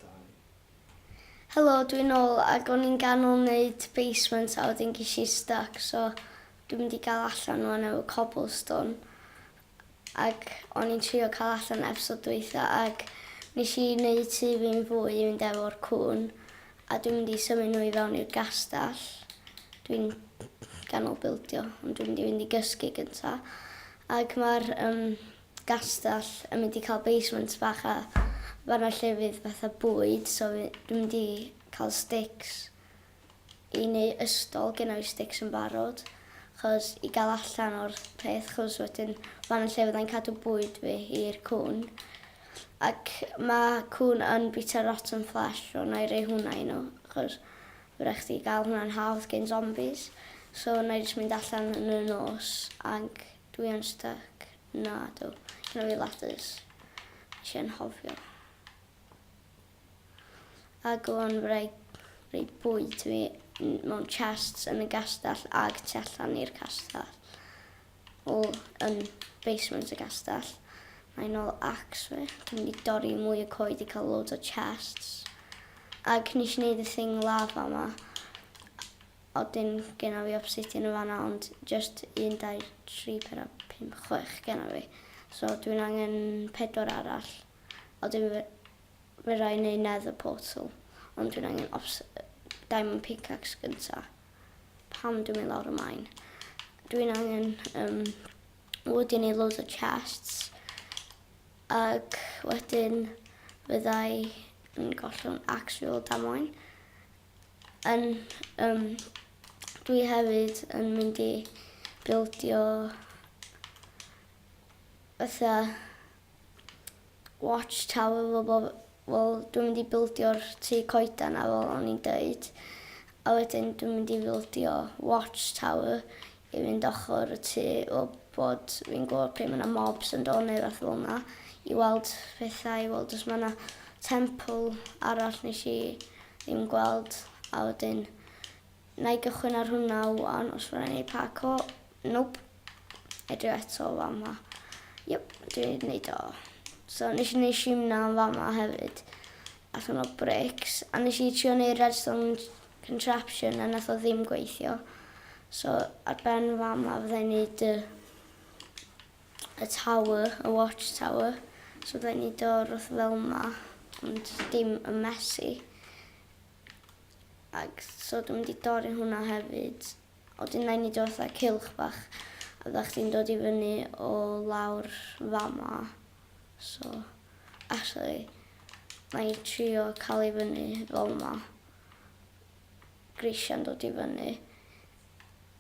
Dau. Helo dwi nôl ag o'n i'n ganol neud basement a wedyn gesh i styc so dwi mynd i gal allan wan efo cobblestone ag o'n i'n trio cal allan epsod dwytha ag nesh i neud tŷ fi'n fwy i fynd efo'r cŵn a dwi mynd i symud nhw i fewn i'r gastell dwi'n ganol bildio ond dwi mynd i fynd i gysgu gynta ag ma'r yym gastell yn mynd i cael basement bach a fan'na lle fydd fatha bwyd so fy- dwi'n mynd i cael stics i neu' ystol gynna fi stics yn barod chos i ga'l allan o'r peth chos wedyn fan'na lle fyddai'n cadw bwyd fi i'r cŵn ac ma' cŵn yn bita rotten flesh so na'i roi hwnna i n'w chos ma' rai' chdi ga'l hwnna'n hawdd gin zombies so na'i jyst mynd allan yn y nos ag Dwi yn styc. Nadw. Gynna fi lattes. Neshi anghofio. Ag o'n wraig roi bwyd fi mewn chests yn y gastell ag tu allan i'r castell. O, yn basement y gastell. Mae nôl axe fi. Dwi'n mynd i dorri mwy o coed i cael loads o chests. Ag nes i neud y thing lava ma. Odyn genna fi obsidian yn fanna ond jyst un dau tri pedwar pump chwech genna fi so dwi'n angen pedwar arall a wedyn fe- fedrai neud nether portal ond dwi'n angen obs- yy diamond pickaxe gynta pam dwi'n mynd lawr y mine dwi'n angen yym wood i neud loads o chests ag wedyn fyddai yn gollwng axe fi ol damwain Yn yym dwi hefyd yn mynd i bildio fatha watch tower fel bo' f- wel dwi'n mynd i bildio'r tŷ coeden 'na fel o'n i'n deud a wedyn dwi'n mynd i fildio watch tower i fynd ochr y tŷ fel bod fi'n gwybod pryd mae yna mobs yn dod neu rywbeth fel 'na i weld pethau i weld os mae yna temple arall nes i ddim gweld a wedyn na i gychwyn ar hwnna ŵan os mae'n ei paco nope edrych eto o fama yep dwi'n neud o so nes i neud shimna yn fama hefyd allan o bricks a nes i trio neud redstone contraption a nath o ddim gweithio so ar ben fama fydda i'n neud y y tower, y watch tower so fydda i'n neud o roth fel ma ond dim yn messy ag so dwi'n mynd i dorri hwnna hefyd. A wedyn mae'n neud o fatha cylch bach a fydda chdi'n dod i fyny o lawr fama. So, actually, na i trio cael i fyny fel yma. Grisiau'n dod i fyny.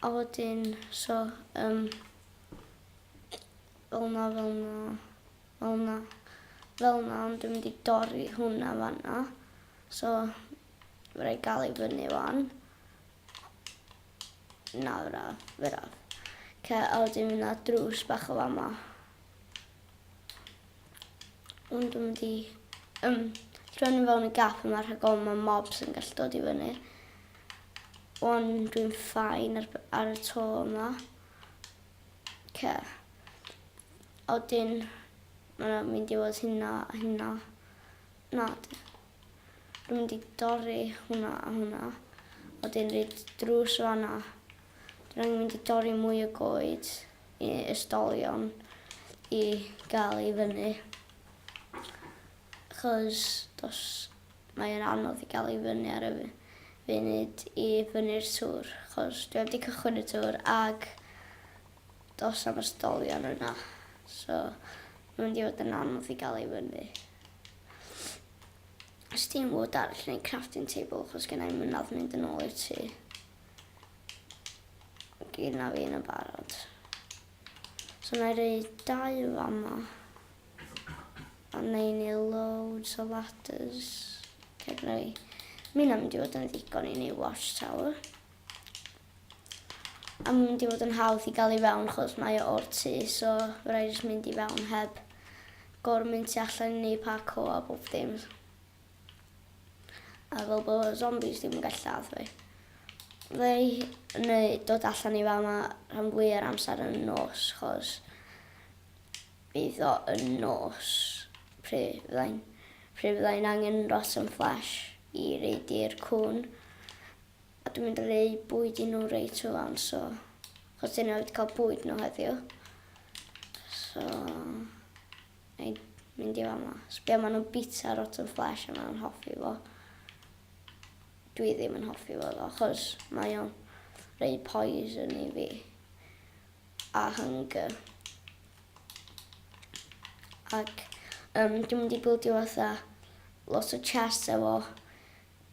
A wedyn, so, um, fel na, fel na, fel na, fel na, ond dwi'n mynd i dorri hwnna fanna. So, rhaid gael i fyny wan. Na, fy rhaf, fy rhaf. Ca, a wedyn mynd na drws bach o fama. Ond dwi'n mynd i... Um, Rhywun yn fewn y gap yma rhag ofn mae mobs yn gallu dod i fyny. Wan dwi'n ffain ar, ar y to yma. Ce. Oedyn, mae'n mynd i fod hynna a hynna. Na, Dwi'n mynd i dorri hwnna a hwnna. A wedyn roid drws fan'na. Dwi angen mynd i dorri mwy o goed i ysdolion i gael i fyny. Achos dos, mae yn anodd i gael i fyny ar y funud i fyny'r tŵr. Achos dwi heb di cychwyn y tŵr ac dos am ysdolion yna. So, mae'n mynd i fod yn anodd i gael i fyny. Steam Wood arall neu crafting table achos gen i mynadd mynd yn ôl i'r tŷ. Gyd na fi yn y barod. So na i rei dau fama. A na i ni loads o ladders. Ceg rei. Mi'n am mynd i fod yn ddigon i ni watchtower. A mae'n mynd i fod yn hawdd i gael i fewn chos mae o o'r tŷ so fe rai jyst mynd i fewn heb gor mynd tu allan i neu parco a bob dim. A fel bod y zombies ddim yn gallu lladd fi. Fe neu dod allan i fa yma rhan fwy ar amser yn nos chos bydd o yn nos pryd fyddai'n pryd fyddai'n angen rotten flesh i reid i'r cwn. A dwi'n mynd roi bwyd i nhw reit rŵan so achos dyn nhw wedi cael bwyd nhw heddiw. So na i mynd i fama. Sbio maen nhw'n bita rotten flesh a maen nhw'n hoffi fo. Dwi ddim yn hoffi fo ddo achos mae o'n rei poison i fi. A hunger. Ac um, dwi'n mynd i bwyd i fatha lot o chest efo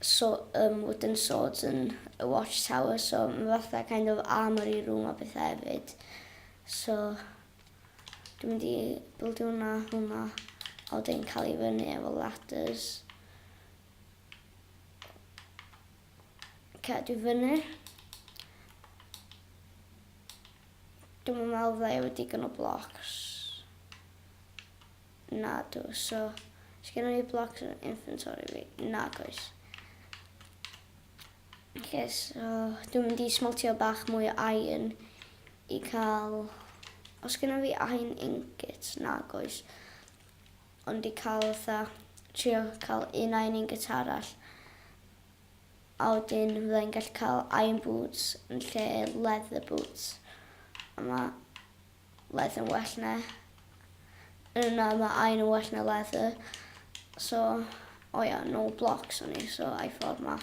so um, wooden swords yn y watchtower, so mae fatha kind of armory room a bethau hefyd. So, dwi'n mynd i bildio hwnna, hwnna, a wedyn cael ei fyny efo ladders. Cadw fyny. Dwi'n meddwl fydda i wedi gynnu blocs. Nadw, so, sgenna fi blocs yn fy inventory fi? Nag oes. Oce, so, dwi'n mynd i smeltio bach mwy o iron i cael... Os sgenna fi iron ingots? Nag oes. Ond i cael fatha, trio cael un iron ingot arall a wedyn fydda i'n gallu cael iron boots yn lle leather boots. A ma' Laeth yn well na yy na ma iron yn well na leather so o ia no blocks o'n i so I thought ma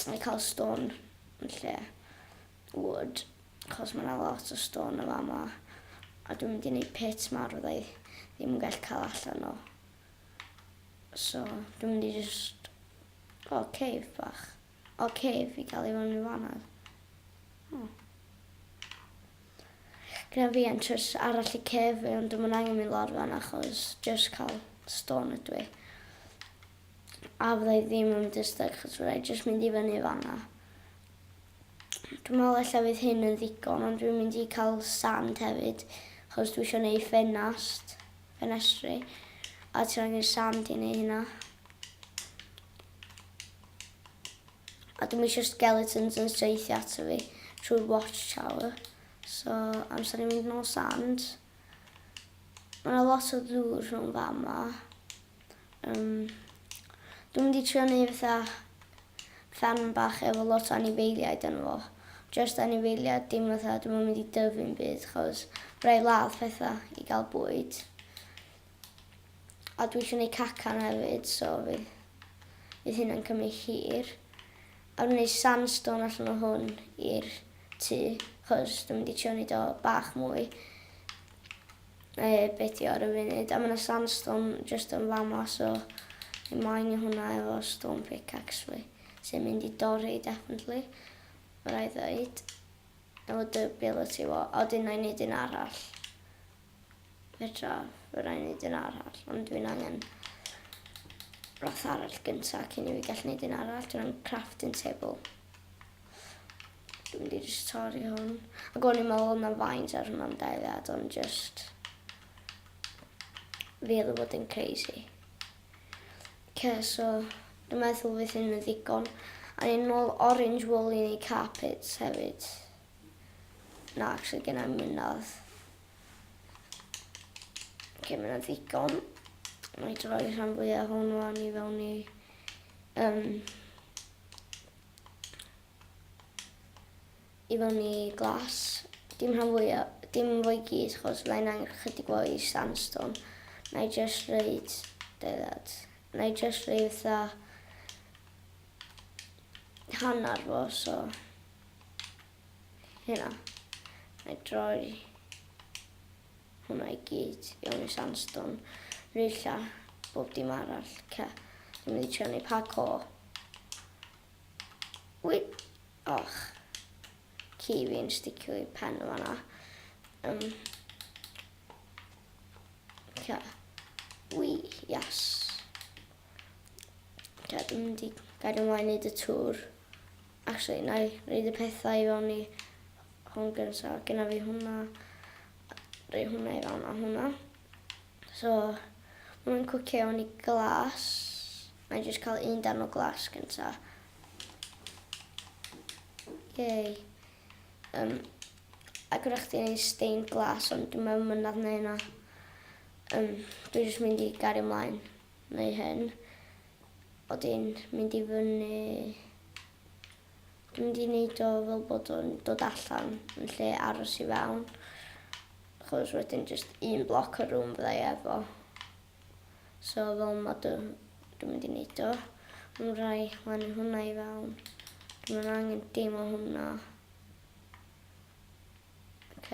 I ca'l stone yn lle wood achos ma' 'na lot o stone yn fama a dwi'n mynd i neud pit mawr fydda i ddim yn gallu cael allan o so dwi'n mynd i jyst o cave bach. Ok fi dal i fod yn ddiwannod. Oh. Gyda fi entrance arall i cef fi ond dim ond angen mi lawr fan achos just cael stone ydw i. A fydda i ddim yn mynd i'r styg achos fydda i just mynd i fyny fanna. Dwi'n meddwl ella fydd hyn yn ddigon, ond dwi'n mynd i cael sand hefyd, chos dwi eisiau gwneud ffenast, ffenestri, a ti'n angen sand i wneud hynna. A dwi'm isio skeletons yn saethu ato fi trwy'r watchtower. So amser i mynd nôl sand. Ma' 'na lot o ddŵr rhwng fama. Yym dwi'n mynd i trio neu' fatha ffarm bach efo lot o anifeiliaid yno fo. Jyst anifeiliad dim fatha dwi'm yn mynd i dyfu'm byd 'chos by' raid ladd petha i ga'l bwyd. A dwi isio neud cacan hefyd so fydd fydd hynna'n cymryd hir. A dwi'n neud sandstone allan o hwn i'r tŷ chos dwi'n mynd i trio neud o bach mwy yy be' 'di o ar y funud a ma' 'na sandstone jyst yn fama so fi moyn neu' hwnna efo stone pickaxe fi sy'n mynd i dorri definitely ma' raid ddeud efo dy ability fo a wedyn 'nai neud un arall Petra, fe rai wneud un arall, ond dwi'n angen roth arall gyntaf cyn i fi gallu wneud un arall. Dwi'n angen crafting table. Dwi'n mynd i jyst torri hwn. Ac o'n i'n meddwl yna faint ar hwnna'n deiliad, ond jyst... Fi oedd yn bod yn crazy. Ce, so, dwi'n meddwl fydd hyn yn ddigon. A ni'n ôl orange wool i ni carpets hefyd. Na, actually genna i'm mynadd. Oce, mae yna ddigon. Mae i droi rhan fwyaf hwn o'n i fewn i... Um, I fewn i glas. Dim rhan fwyaf, dim fwy i gyd, chos fydda i'n angen chydig o i sandstone. Na i just reid... Deddad. Na i just reid fatha... Hanner fo, so... hynna. Na i droi hwnna i gyd fewn i sandstone. Rwylla bob dim arall. Ca. Dwi'n mynd i trio neu pa co. Wy! Och. Ci fi'n sticio i pen o fanna. Um, ca. Wy, yes. Ca, dwi'n mynd i gael ymlaen i dy tŵr. Actually nai roid y pethau i fewn i hwn gynta. Gynna fi hwnna. Roi hwnna i fewn a hwnna. So ma' nw'n cwcio i fewn i glas. Na'i jyst ca'l un darn o glas gynta. Yay. Um, a gyda chdi neu stained glass ond dwi'n meddwl mynd nad neu yna. Um, dwi'n jyst mynd i gario mlaen neu hyn. Bod e'n mynd i fyny. Dwi'n mynd i wneud o fel bod o'n dod allan yn lle aros i fewn. Chos wedyn jyst un bloc o rŵm fydda i efo. So fel ma dw, dwi'n mynd i wneud o. Mae'n rhai lan hwnna i fewn. Dwi'n mynd angen dim o hwnna. Ok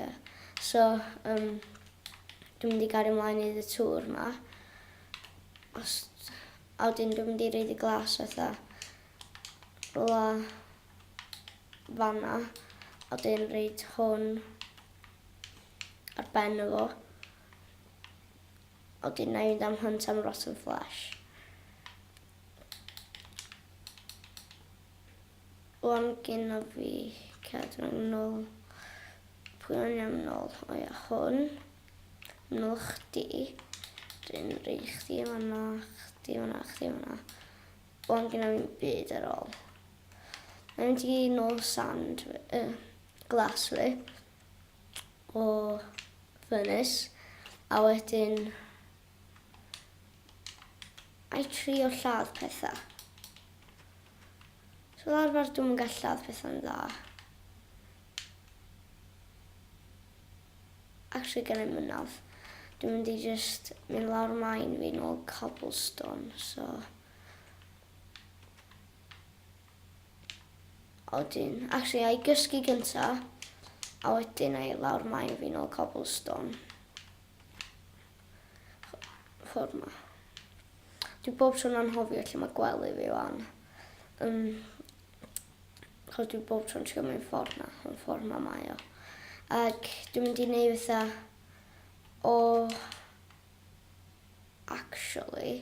so yym dwi'n mynd i gario mlaen i neud y tour ma. Os a wedyn dwi'n mynd i roid y glas fatha rwla fanna a wedyn roid hwn ar ben o fo. A wedyn na i fynd am hunt am rotten flesh. Wan gynno fi cad rhwng nol pwy o'n iawn nol o ia hwn nol chdi drin rei chdi fanna chdi fanna chdi fanna wan gynno fi'n byd ar ôl na mynd i nol sand uh, glas fi o furnace a wedyn I trio lladd petha. So fel arfer dwi'm yn gallu lladd petha'n dda. Actually gen i'm mynaf. Dwi'n mynd i jyst mynd lawr main fi nôl cobblestone, so... A wedyn, actually, a i gysgu gynta, a wedyn a i lawr main fi nôl cobblestone. ffordd ma. Dwi bob tro'n anghofio lle mae gwely fi wan. Um, chos dwi bob tro'n trio mynd ffordd na, ond ffordd ma mae o. Ac dwi'n mynd i wneud fatha o... Actually,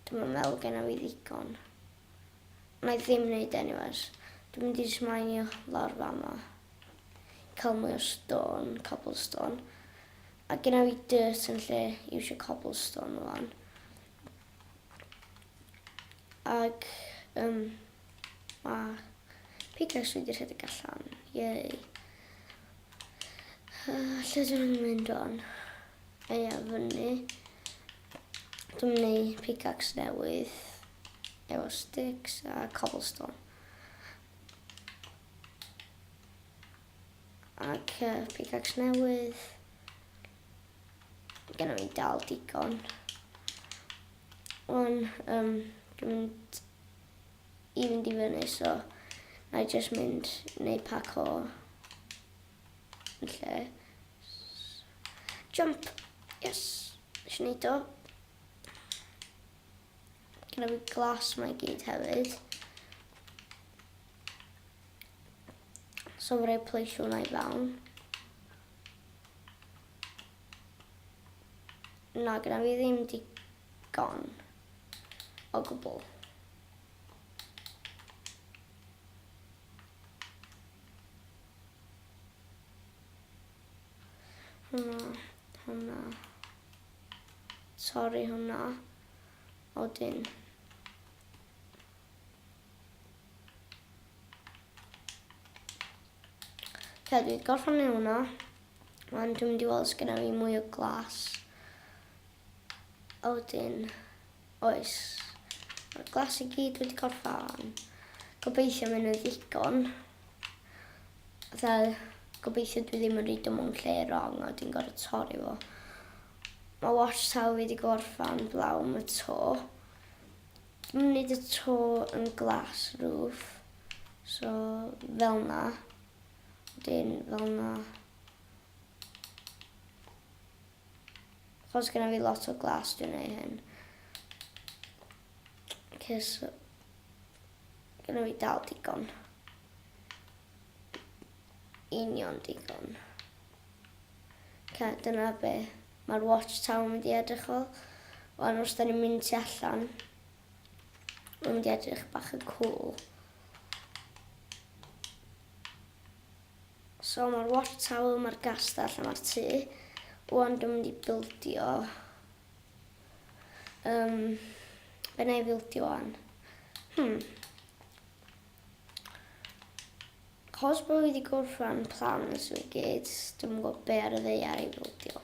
dwi'n meddwl gen i fi ddigon. Mae ddim neud anyways. Dwi mynd i jyst mineio lawr fama. I cael mwy o stone, cobblestone. A gynna fi dirt yn lle iwsio cobblestone wan. Ac, um, ma pickaxe fi wedi rhedeg allan. Yay. Uh, lle dyn nhw'n mynd o'n? Eia, fyny. Dwi'n mynd i pickaxe newydd. efo sticks a cobblestone. Ac uh, pickaxe newydd. Gynna fi dal digon. Wan, um, dwi'n mynd i fynd i fyny, so na i just mynd neu pac o yn lle. Jump! Yes! Nes i neud o. Gyda fi glas mae gyd hefyd. So fe rhaid pleisio hwnna i fewn. Na, gyda fi ddim digon o gwbl. Hwna, hwna. torri hwnna odyn. Fe dwi gorffan ei hwnna. Wan dwi'n mynd i weld sgynna fi mwy o glas. Odyn. Oes. Mae'r glas i gyd wedi gorffan. Gobeithio mynd yn ddigon. Fel, gobeithio dwi ddim yn rhaid o mewn lle wrong a dwi'n gorfod torri fo. Mae wash towel wedi gorffan blaw am y to. Dwi'n mynd y to yn glas roof. So, fel na. Wedyn, fel na. Achos gyda fi lot o glas dwi'n ei hyn. Cys gyda fi dal digon. Union digon. Ca, dyna be. Mae'r watch tower mynd i edrych o. Ond os da ni'n mynd ti allan, mae'n mynd i edrych bach yn cool. So ma'r watch tower ma'r gastell a ma'r tŷ ŵan dwi'n mynd i bildio um, be na i bildio ŵan hmm cos bod fi wedi gorffan plans fi gyd dwi'n gwybod be ar y ddeiar i bildio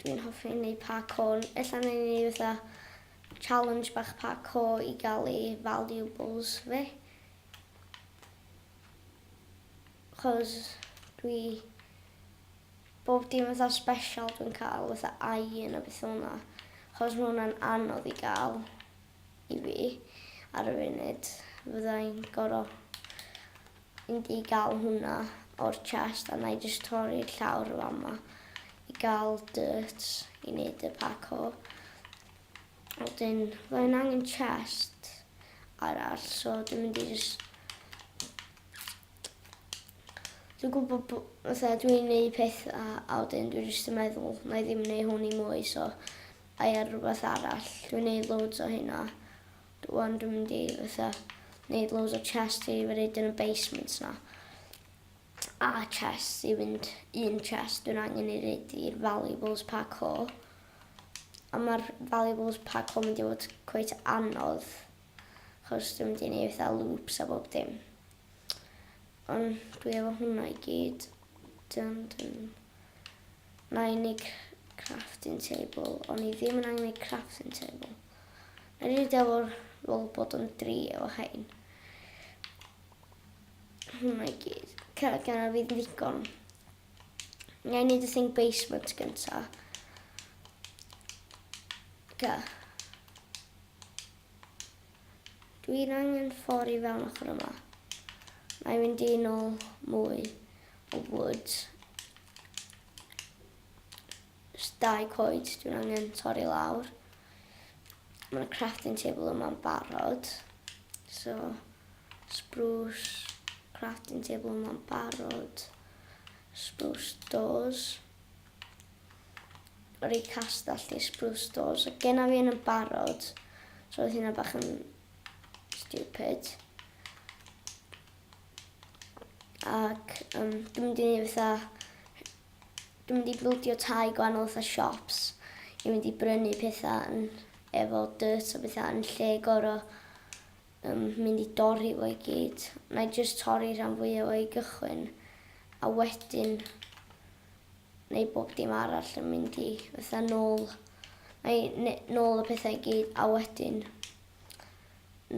dwi'n hoffi neud parkour ella neud ni fatha challenge bach parkour i gael ei valuables fi Cos dwi... Bob dim fatha special dwi'n cael fatha iron a betha fel 'na. Chos ma' hwnna'n anodd i ga'l i fi ar y funud. Fydda i'n goro mynd i ga'l hwnna o'r chest a 'nai jyst torri'r llawr y' fama i ga'l dirt i neud y parkour. A wedyn roedd yn angen chest arall so dwi'n mynd i jyst... Dwi'n gwybod bod... Fatha dwi'n neud pethau a wedyn dwi jyst yn meddwl na i ddim neud hwn i mwy so a i ar rhywbeth arall. Dwi'n neud loads o hynna. Rwan dwi'n mynd i fatha neud loads o chest i fy roed yn y basement na. A chest i fynd un chest dwi'n angen i roed i'r valuables pack hall. A mae'r valuables pack hwn mynd i fod cweit anodd, achos dwi'n mynd i neud fatha loops a bob dim. Ond dwi efo hwnna i gyd. Dyn, dyn. Na i neud crafting table, ond i ddim yn angen neud crafting table. Na i neud efo'r fel bod yn dri efo hein. Hwnna i gyd. Cerdd gan fi ddigon. Neu neud y thing basement gynta. Ga. Dwi'n angen ffordd i fewn ochr yma. Mae'n mynd i'n ôl mwy o wood. Jyst dau coed dwi'n angen torri lawr. Ma' 'na crafting table yma'n barod. So, spruce crafting table yma'n barod. Spruce doors. Rei castell di spruce doors. A genna fi un yn barod. So oedd hynna bach yn stupid. Ac um, dwi'n mynd i ni fatha Dwi'n mynd i flwdio tai gwahanol fatha shops i mynd i brynu petha yn efo dirt a betha yn lle goro yym mynd i dorri fo i gyd. Na'i jyst torri rhan fwya o i gychwyn a wedyn neu bob dim arall yn mynd i fatha nôl neu ne- nôl y petha i gyd a wedyn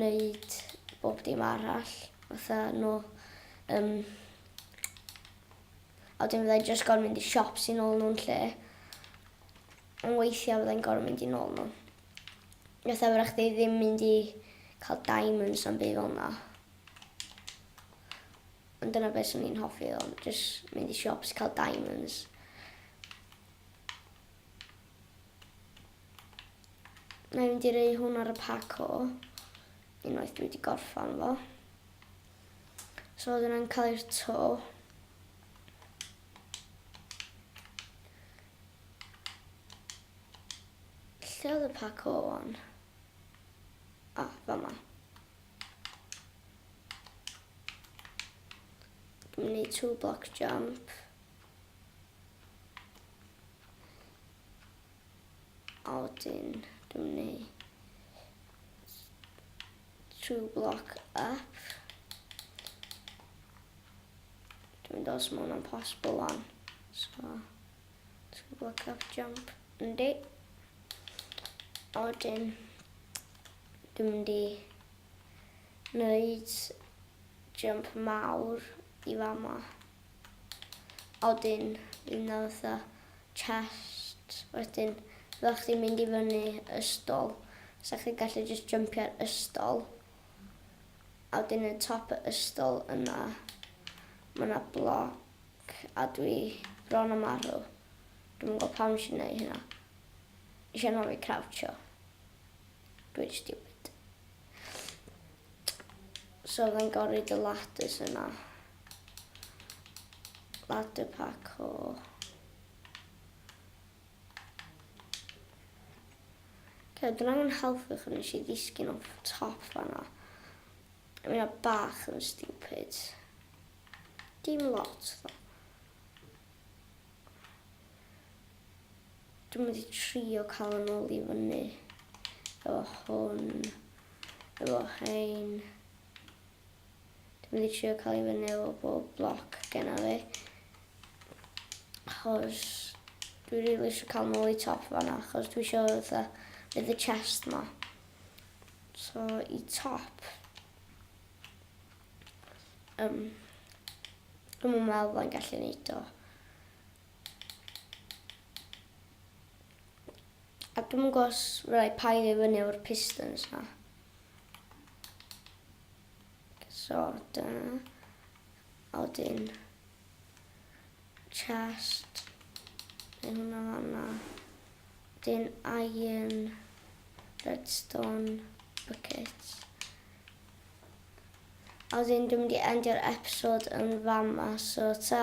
neud bob dim arall fatha nôl yym a wedyn fyddai jyst gorfod mynd i siops i nôl nhw'n lle. Ond weithiau fyddai'n gorfod mynd i nôl nhw. Fatha fyddech chdi ddim mynd i cael diamonds am byd fel na. Ond dyna beth sy'n ni'n hoffi ddo, jyst mynd i siops i cael diamonds. Na i mynd i rei hwn ar y paco unwaith dwi wedi gorffan fo. So dyna'n cael i'r to. Lle oedd y pac o o'n? A, ah, fa ma. Dwi'n mynd i two block jump. A wedyn dwi'n mynd i True block up. Dwi'n mynd os mae hwnna'n possible wan. So, true block up jump. Yndi. A wedyn, dwi'n mynd i wneud jump mawr i fama. Odyn fi nawr fatha chest wedyn fyddech chdi'n mynd i fyny ystol sa chdi'n gallu jyst jympio ar ystol a wedyn yn top y ystol yna ma' 'na bloc a dwi bron a marw dwi'm yn gwybod pam nes i neud hynna nes i anhofio crouchio dwi'n stupid so fyddai'n gor'o' roid y ladders yna. Ladder parkour. Okay, dyna nhw'n helpu chi nes i ddisgyn off top fanna. I mean, a bach yn stupid. Dim lot, ddo. Dwi'n mynd i trio cael yn ôl i fyny. Efo hwn. Efo hein. Dwi'n mynd i trio cael i fyny efo bob bloc genna fi. Achos dwi rili really eisiau cael nôl i top fanna, achos dwi eisiau fatha fydd y chest ma. So i top. Um, Dwi'n mynd meddwl bod yn gallu neud o. A dwi'n mynd gos fyddai paid i fyny o'r pistons na. So dyna a wedyn chest neu hwnna fanna. Wedyn iron, redstone, buckets. A wedyn dwi'n mynd i endio'r episode yn fama, so ta!